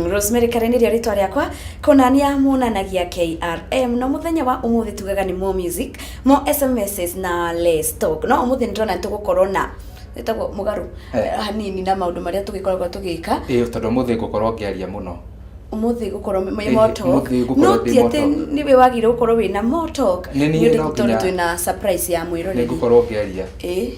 Rosemary Karen nĩrĩo rĩtwa rĩakwa kũnania muonanagia KRM no mũthenya wa ũmũthĩ tugaga nĩ more music more SMSs na less talk no ũmũthĩ nĩtũrona nĩtũgũkorwo na ĩtagwo mũgarũ Eh. hanini na maũndũ marĩa tũgĩkoragwo tũgĩka ĩĩ tondũ mũthĩ ngũkorwo ngĩaria mũno ũmũthĩ gũkorwo me Ĩhĩ, moto ũmũthĩ gũkorwo no ndĩ ti atĩ moto. nĩwe wagĩrĩirwo gũkorwo wĩna moto Nĩ niĩ no tondũ nginya- twĩna surprise ya nĩ mwĩroreri ngũkorwo ngĩaria ĩĩ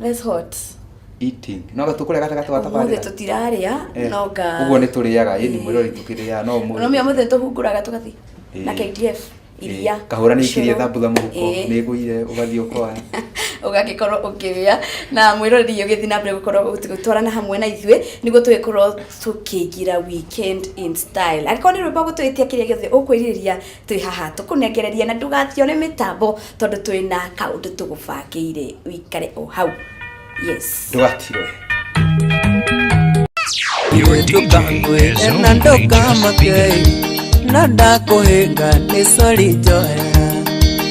That's hot. eating no gatå kå rä a gatagatå wa Ũmũthĩ tabarä tũtirarĩa no nga. å guo nä tå rä aga ä ni mwä rori tå kä rä aga no må Rũmia mũthĩ tũhungũraga tũgathiĩ Ĩĩ. na KDF iria. kahå ra nä ikirie ũcũrũ. thambutha må huko Ĩĩ. nä gå ire å gathiä å koa ũgagĩkorwo ũkĩrĩa na mwĩroreri ũgĩthiĩ na mbere gũkorwo gũtwarana hamwe na ithuĩ nĩguo tũgĩkorwo tũkĩingĩra weekend in style angĩkorwo nĩ rwĩmbo gũtwĩtia kĩrĩa gĩothe ũkwĩrirĩria Twĩ haha tũkũnengereria na ndũgathiore mĩtambo tondũ twĩ na kaũndũ tũgũbangĩire ũikare o hau. Yes. Ndũgatirwe. ndũkangwĩre na ndũkamake na ndakũhĩnga nĩ sori njohera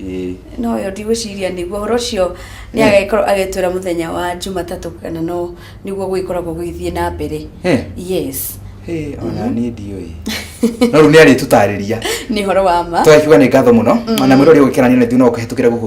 Ĩĩ. No yo ndigwĩciria nĩguo ũhoro ũcio nĩ agĩkorwo agĩtwĩra mũthenya wa Jumatatũ kana no nĩguo gũgĩkoragwo gũgĩthiĩ na mbere. Eh. Yes. Hey, ona niĩ ndiũĩ no rĩu nĩ arĩtũtarĩria nĩ horo wa ma twakiuga nĩ ngatho mũno ona mwĩrori ũgĩkena nĩ nĩ no kũhetũkĩra gũkũ